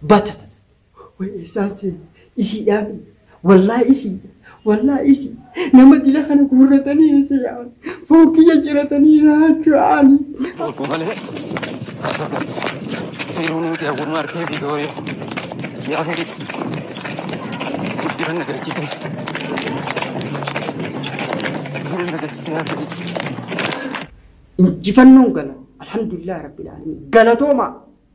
Bata tana. Way eessaan seenu. Isiidhaa miti. Wallaahi isiidha. Wallaahi isi. Nama dila kana guurratanii eessa yaa'an. Foon kiyya ciratanii raachuu yaa'anii. Tokko malee seeruu nuti hawwummaa harkee fi dooyee yaa fedhi guddiran nagarchite guddiran nagarchite yaa fedhi. Injifannoon gala. Alhamdulillah Rabbil Aalamiin. Galatoomaa.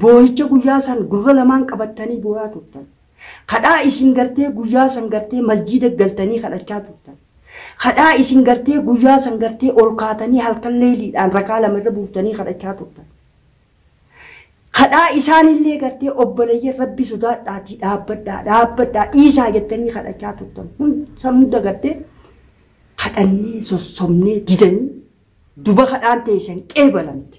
Boohicha guyyaa san gurra lamaan qabattanii booyaa turtan. Kadhaa isin gartee guyyaa san gartee masjiida galtanii kadhachaa turtan. Kadhaa isin gartee guyyaa san gartee ol kaatanii halkan leeyliidhaan rakaa lama irra buuftanii kadhachaa turtan. Kadhaa isaanillee gartee obboleeyyan rabbi sodaadhaatii dhaabbadhaa dhaabbadhaa dhiisaa jettanii kadhachaa turtan. San hunda gartee kadhannee sossobnee didanii duba kadhaan teeysan qeebalamte.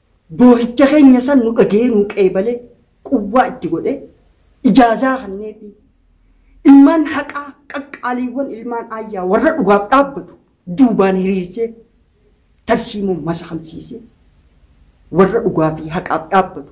boohicha keenya san nu dhaga'ee nu qeebalee quwwaa itti godhee ijaazaa kanneefi ilmaan haqaa qaqqaaliiwwan ilmaan aayyaa warra dhugaaf dhaabbatu duubaan hiriirsee tarsiimoo masakamsiisee warra dhugaa fi haqaaf dhaabbatu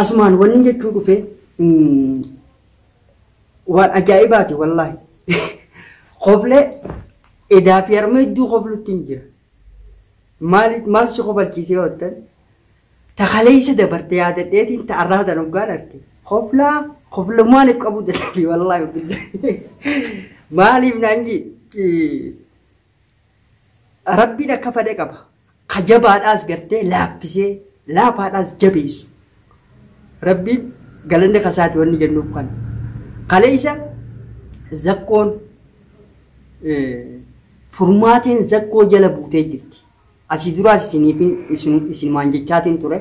Asumaan wanni jechuu dhufe waan ajaa'ibaati wallaahi. Koflee edaa fi harma hedduu koflutti hin jira. Maal si kofalchiisee hoottan? Ta kaleessa dabarte yaadadheetiin ta arraa tan hoggaan arge. Koflaa koflumaan if qabuu dadhabe wallaahi. Maaliif naan jee Rabbiin akka fada qaba. Ka jabaadhaas gartee laaffisee laafaadhaas jabeessu. Rabbiin galanni kasaati wanni jennuuf kana. Kaleessa zakkoon furmaateen zakkoo jala buutee jirti. Asii duraas isinumaan jechaatiin ture.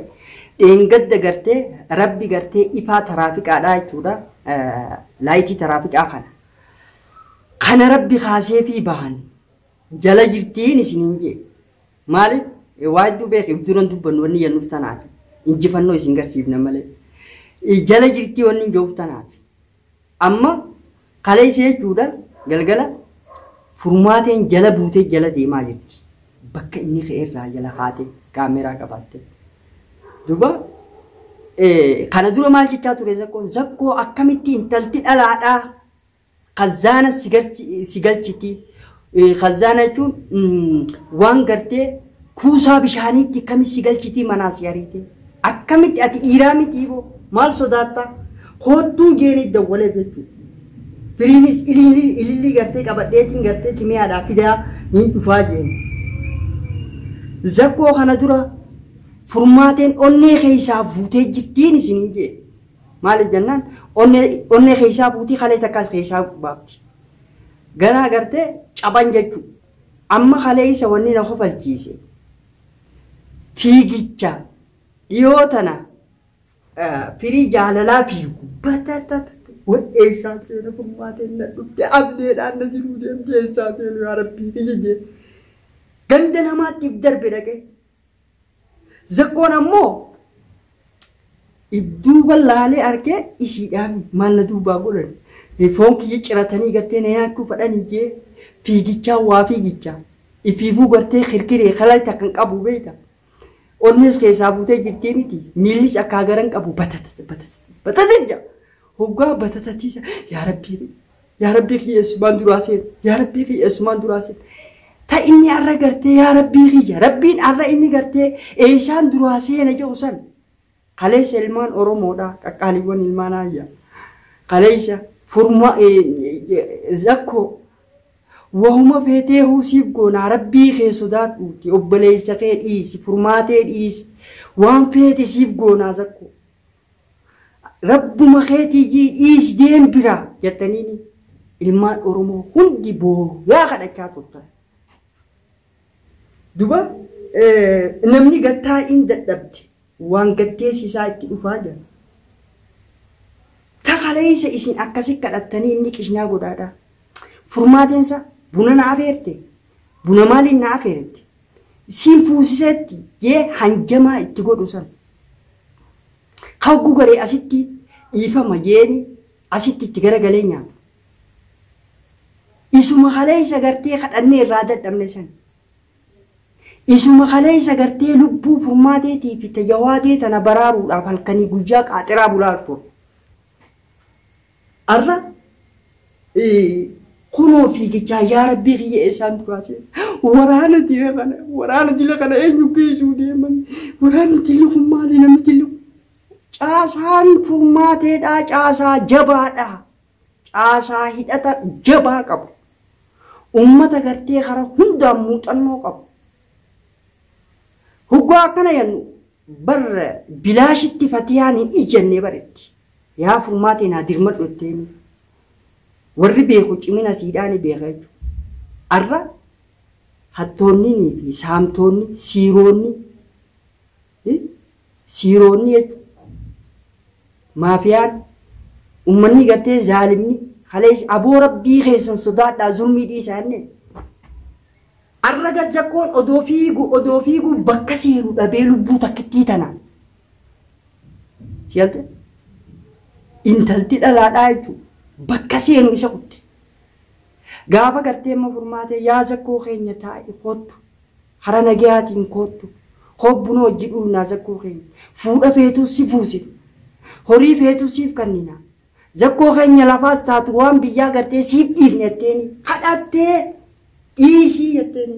Dheengadda gartee rabbi gartee ifaa taraafiqaadhaa jechuudha. Laayitii taraafiqaa kana. Kana Rabbi kaaseefii bahan jala jirtiin isiniin jee. Maaliif? Waa hedduu beeki duran dubbannu wanni jennuuf tanaaf injifannoo isin garsiifna malee. Jala jirtii wanni hin jehuuf tanaaf. Amma kaleessa jechuudha galgala furmaateen jala buutee jala deemaa jirti. bakka inni ka'e irraa jala kaate kaameeraa qabaatte. Duuba kana dura maal jechaa ture zakkoon zakkoo akkamitti intalti dhalaadhaa kazaana si galchiti kazaana jechuun waan gartee kuusaa bishaaniitti akkamitti si galchiti manaa si ariite. Akkamitti ati dhiiraa mitii boo maal sodaattaa koottuu jeeni dawwaleef jechuudha. Firiinis ilillii ilillii gartee qabadheetiin gartee kimiyaadhaa fidaa niin dhufaa jeeni. Zakkoo kana dura furmaateen onnee keessaa fuutee jirtiin isiniin jee. Maaliif jennaan onnee onnee keessaa fuutii kalee takkaas keessaa baafti. Ganaa gartee caban jechuudha. Amma kaleessa wanni na kofalchiise. fiigicha dhiyoo tana firii jaalalaa fiigu batatata way eessaa seena furmaateen na dhufte ableedhaan na jiruu deemte eessaa seenu yaa rabbii kijijee ganda namaattiif darbe dhaqee zakkoon ammoo Dudduuba laalee arke isiidhaan maal na duubaa godhan foon kiyya ciratanii gartee na nyaachuu fadhanii jee fiigichaa waa fiigichaa ifiifuu gartee kirkiree kalay takkan qabu beeyta onnees keessaa buutee jirtii miti miillis akkaa garan qabu batatata batatata batatata hoggaa batatatiisa yaa rabbii Yaa rabbii kiyya eessumaan duraa seen yaa rabbii kiyya eessumaan duraa seen ta inni har'a gartee yaa rabbii kiyya rabbiin har'a inni gartee eessaan duraa seena jedhu san kaleessa ilmaan oromoodha qaqqaaliiwwan ilmaan aayya kaleessa furma zakko wahuma feetee huusiif goonaa rabbii kee sodaadhuuti obboleessa kee dhiisi furmaatee dhiisi waan feete siif goonaa zakko Rabbuma keetii jii dhiis deem biraa jattaniini ilmaan Oromoo hundi booyaa kadhachaa turtan. Duba namni gattaa in dadhabde waan gatteessi isaa itti dhufaa jira. Takaleessa isin akkasi kadhattanii inni qishnaa godhaadhaa. Furmaateensa buna na afeerte buna maaliin na afeerte siin fuusiseetti jee hanjamaa itti godhu san ka hogguu garee asitti dhiifama jeeni asitti itti garagalee nyaatu. Isuma kaleessa gartee kadhannee irraa dadhabne san. Isuma kaleessa gartee lubbuu furmaateetii fi tajawaatee tana baraaruudhaaf halkanii guyyaa qaaxiraa bulaa turre. Arra kunoo fiigichaa yaa rabbii kiyya eessaan duraa jee waraana dila kana waraana dila kana eenyu geessuu deeman waraanni dilli kun maali namni dilli kun caasaan furmaateedhaa caasaa jabaadhaa caasaa hidhata jabaa qabu ummata gartee kara hundaan muuxannoo qabu hoggaa akkana yannu barra bilaashitti fatiyaan hin ijjannee baretti Yaa furmaatii naa dirmadhu itteeni. Warri beeku cimina siidhaa ni beeka jechuudha. Arra hattoonninii fi saamtoonni, siiroonni, i, siiroonni jechuudha. Maafiyaan, ummanni gartee zaalimni, kalees aboo rabbii keessan sodaadhaa zulmii dhiisaa jennee. Arra gad zakkoon odoo fiigu odoo fiigu bakka seenu dhabee lubbuu takkittii tana. Siyalte intalti dhalaadhaa jechuun bakka seenu isa kutte. Gaafa gartee immoo furmaatee yaa zakkoo keenya taa'i koottu hara nagayaatiin koottu hobbuna hojji dhuunaa zakkoo keenya fuudha feetuu si fuusina horii feetuu siif kannina zakkoo keenya lafaas taatu waan biyyaa gartee siif dhiifne jetteeni kadhattee dhiisii jetteeni.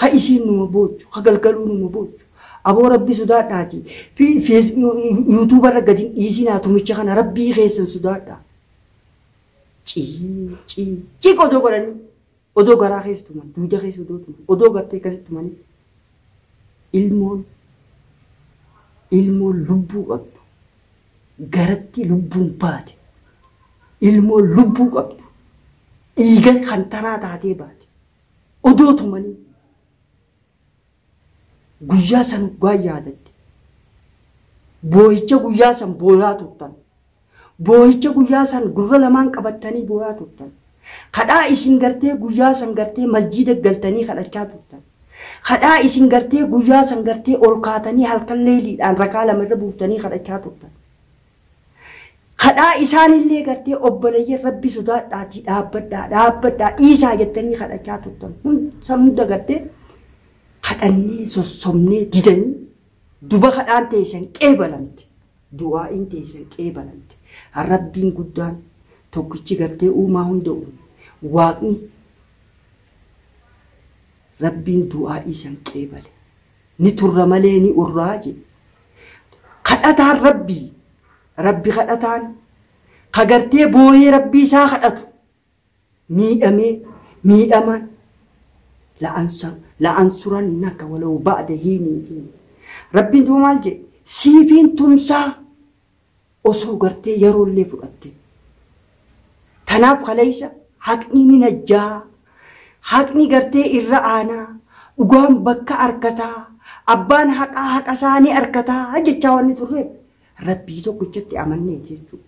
Ha isiin numa boochu, ha galgaluu numa boochu. Aboo rabbi sudaadhaati YouTube irra gad hin dhiisinaa tumicha kana rabbii keessan sudaadhaa. Cii cii cii odoo godhanii odoo garaa keessa tuman duuda keessa odoo tuman odoo gartee akkasitti tumanii ilmoon ilmoon lubbuu qabdu garatti lubbuun baate ilmoon lubbuu qabdu dhiiga kan taraa taatee baate Odoo tumanii guyyaa san hoggaa yaadatte boohicha guyyaa san booyaa turtan boohicha guyyaa san gurra lamaan qabattanii booyaa turtan kadhaa isin gartee guyyaa san gartee masjiida galtanii kadhachaa turtan kadhaa isin gartee guyyaa san gartee ol kaatanii halkan leeyliidhaan rakaa lama irra buuftanii kadhachaa turtan Kadhaa isaanillee gartee obboleeyyan rabbi sodaadhaatii dhaabbadhaa dhaabbadhaa dhiisaa jettanii kadhachaa turtan san hunda gartee kadhannee sossobnee didanii duba kadhaan teessan qeebalamte du'aa'iin teessan qeebalamte rabbiin guddaan tokkichi gartee uumaa hunda uume waaqni rabbiin du'aa'ii san qeebale ni turra malee ni urraa je. Kadhataan Rabbii, Rabbi kadhataan, ka gartee booyee Rabbii isaa kadhatu, miidhamee, miidhamaan, la'ansa- la'ansurannaka walau ba'da hiinin je. Rabbiin duba maal je? Siifiin tumsaa, osoo gartee yaroollee fudhattee. Tanaaf kaleessa haqni ni najjaa, haqni gartee irra aanaa, dhugaan bakka arkataa, abbaan haqaa haqasaa ni arkataa jechaa wanni turreef Rabbii tokkichatti amannee jechuu.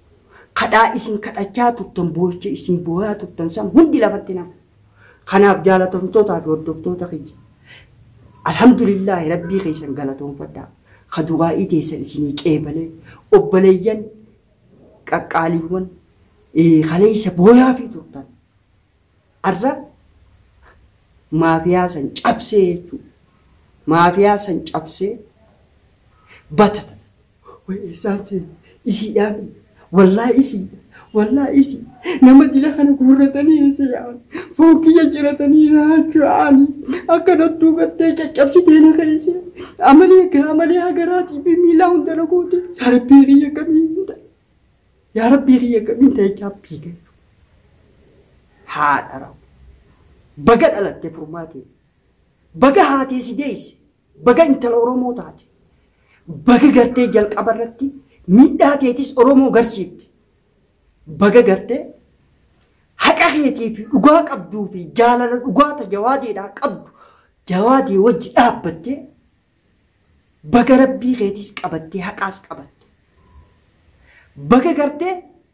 Kadhaa isin kadhachaa turtan, boocha isin booyaa turtan san hundi lafatti nafa. Kanaaf jaalatamtootaa fi hordoftoota kiyya alhamdulillaahi rabbii keessan galatoonfadhaa ka du'aa'ii teessan isinii qeebalee obboleeyyan qaqqaaliiwwan kaleessa booyaa fi turtan arra maafiyaa san cabsee jechuudha maafiyaa san cabsee batata Way eessaan seene isiidhaami wallaahi isii wallaahi isii nama dila kana guurratanii eessa yaa'an foon kiyya ciratanii raachuu aani akka nattuu gattee caccabsitee na keessee amalee gaa amalee hagaraatii fi miilaa hunda na goote yaa rabbii kiyya kamiin ta'a yaa rabbii kiyya kamiin ta'a jechaa fiige haadha raawwa baga dhalatte furmaatee baga haatee si deesse Baga intala Oromoo taate. Baga gartee jalqaba irratti miidhaa teetis Oromoo garsiifte. Baga gartee haqa keetii fi dhugaa qabduu fi jaalala dhugaa ta jawaadeedhaa qabdu jawaadee wajji dhaabbattee baga rabbii keetis qabattee haqaas qabatte. Baga gartee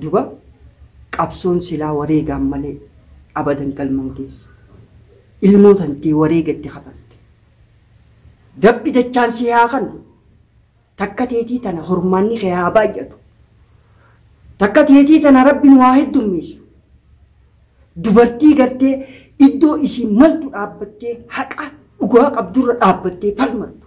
Duba qabsoon silaa wareegaan malee abadan galma hin geessu. Ilmoo tantee wareega itti kafalte. Rabbi dachaan si haa kannu. Takka teetii tana hormaanni kee haa baay'atu. Takka teetii tana rabbi nu haa heddummeessu. Dubartii gartee iddoo isiin maltu dhaabbattee haqa dhugaa qabdurra dhaabbattee falmattu.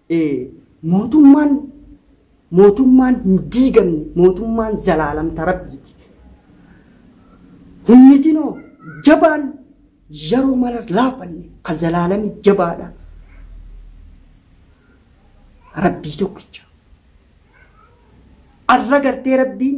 Ee, mootummaan mootummaan hin diigamne, mootummaan zalaalam ta Rabbiiti. Humnitinoo jabaan yeroo mara laafanne ka zalaalami jabaadha. Rabbii tokkicha. Arra gartee Rabbiin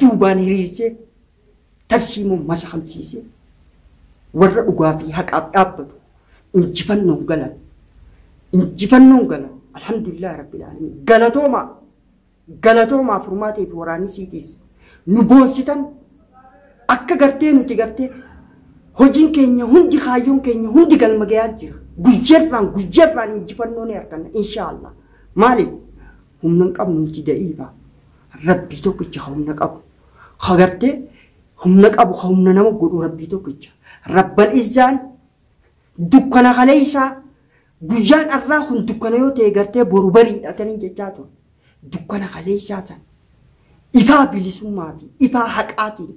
duubaan hiriirsee tarsiimoon masakamsiisee warra dhugaa fi haqaaf dhaabbatu injifannoon galan injifannoon galan alhamdulillah rabbil alamin galatoomaa galatoomaa furmaatee fi waraanni siitiis nu boonsitan akka gartee nuti gartee hojiin keenya hundi kaayyoon keenya hundi galma gayaa jira guyyaarraan guyyaarraan injifannoo ni arganna inshaallah maaliif Humna hin qabnu nuti da'iifa. Rabbii tokkicha ka humna qabu. Ka gartee humna qabu ka humna nama godhu rabbii tokkicha. Rabbal izzaan dukkana kaleessaa guyyaan arraa kun dukkana yoo ta'e gartee boru bariidha kan hin jechaa ture. Dukkana kaleessaa san ifaa bilisummaa fi ifaa haqaatiin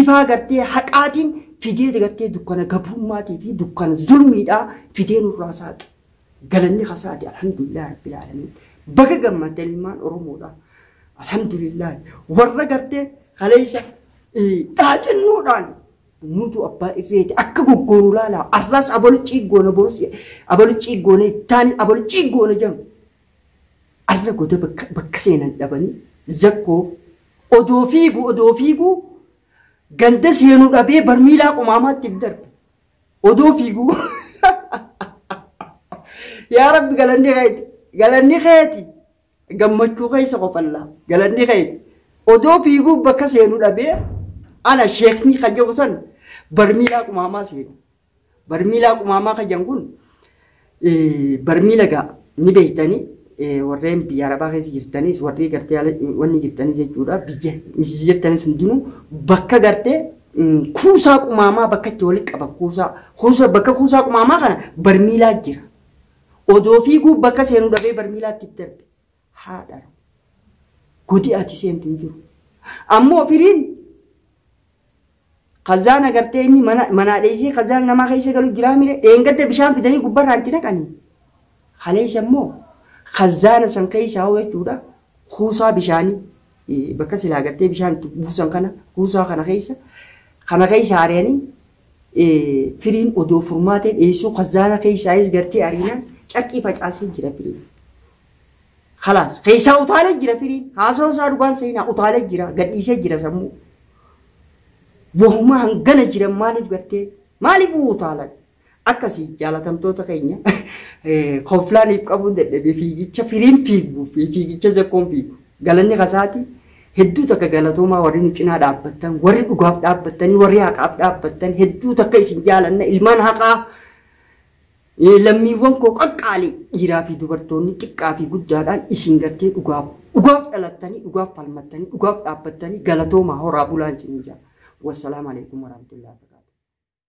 ifaa gartee haqaatiin fidee gartee dukkana gabrummaatii fi dukkana zulmiidhaa fidee nurraa saaqe. Galanni kasaati alhamdulillah rabbil alamin. Baga gammaddan ilmaan Oromoodha. Alhamdulillah warra gartee kaleessa dhaacinnoodhaan nutu abbaa irreeti akka goggoonu laalaa arraas abolichi goona borus abolichi goona ittaani abolichi goona jedhamu. Arra goda bakka seenan dhabanii zakkoo odoo fiigu odoo fiigu ganda seenuu dhabee barmiilaa qumaamaatti darbe. Odoo fiiguu. Yaa rabbi galanni keeti. Galanni keeti. Gammachuu keessa qofallaa. Galanni keeti. Odoo fiiguu bakka seenu dhabee ana sheekni kan jedhu san barmiilaa qumaamaa seena. Barmiilaa qumaamaa kan jedhan kun Barmiila egaa ni beektani warreen biyya arabaa keessa jirtanis warri gartee ala wanni jirtanis jechuudha biyya misisi jirtanis hundinuu bakka gartee kuusaa qumaamaa bakka itti walitti qaban kuusaa kuusaa bakka kuusaa qumaamaa kana barmiilaa jira. Odoo fiiguu bakka seenuu dhabee barmiilaatti darbe. haa dhalu. Godi ati seentu hin jiru. Ammoo firiin kazaan agartee inni mana manaa dheessee kazaan namaa keessa galu jiraa mire dheengadda bishaan fidanii gubbarraa itti naqanii. Kaleessa immoo kazaana san keessaa hoo jechuudha kuusaa bishaanii eh, bakka silaa agartee bishaan itti buusan kana kuusaa kana keessa kana keessa ari'anii eh, firiin odoo furmaatee dheessuu kazaana keessaayis gartee ariinaan carqii facaasee jira firiin. Kalaas keessaa utaalee jira firiin haasawaa isaa dhugaan seenaa utaalee jira gadhiisee jira sammuu. Yoomuma hangana jiran maaliif gattee maaliif utaalan akkasii jaalatamtoota keenya konfilaaniif qabuu dadhabee fiigicha firiin fiiguu fi fiigicha zakkoon fiigu galanni kasaati hedduu takka galatoomaa warri nu cinaa dhaabbattan warri dhugaaf dhaabbattanii warri haqaaf dhaabbattan hedduu takka isin jaalanna ilmaan haqaa Lammiiwwan koo qaqqaalii dhiiraa fi dubartoonni xiqqaa fi guddaadhaan isin gartee dhugaaf dhugaaf dhalattanii dhugaaf falmattanii dhugaaf dhaabbattanii galatoomaa horaa bulaa isiniin jedha. Wassalaam alaikum warahmatullahi wabarakatuh.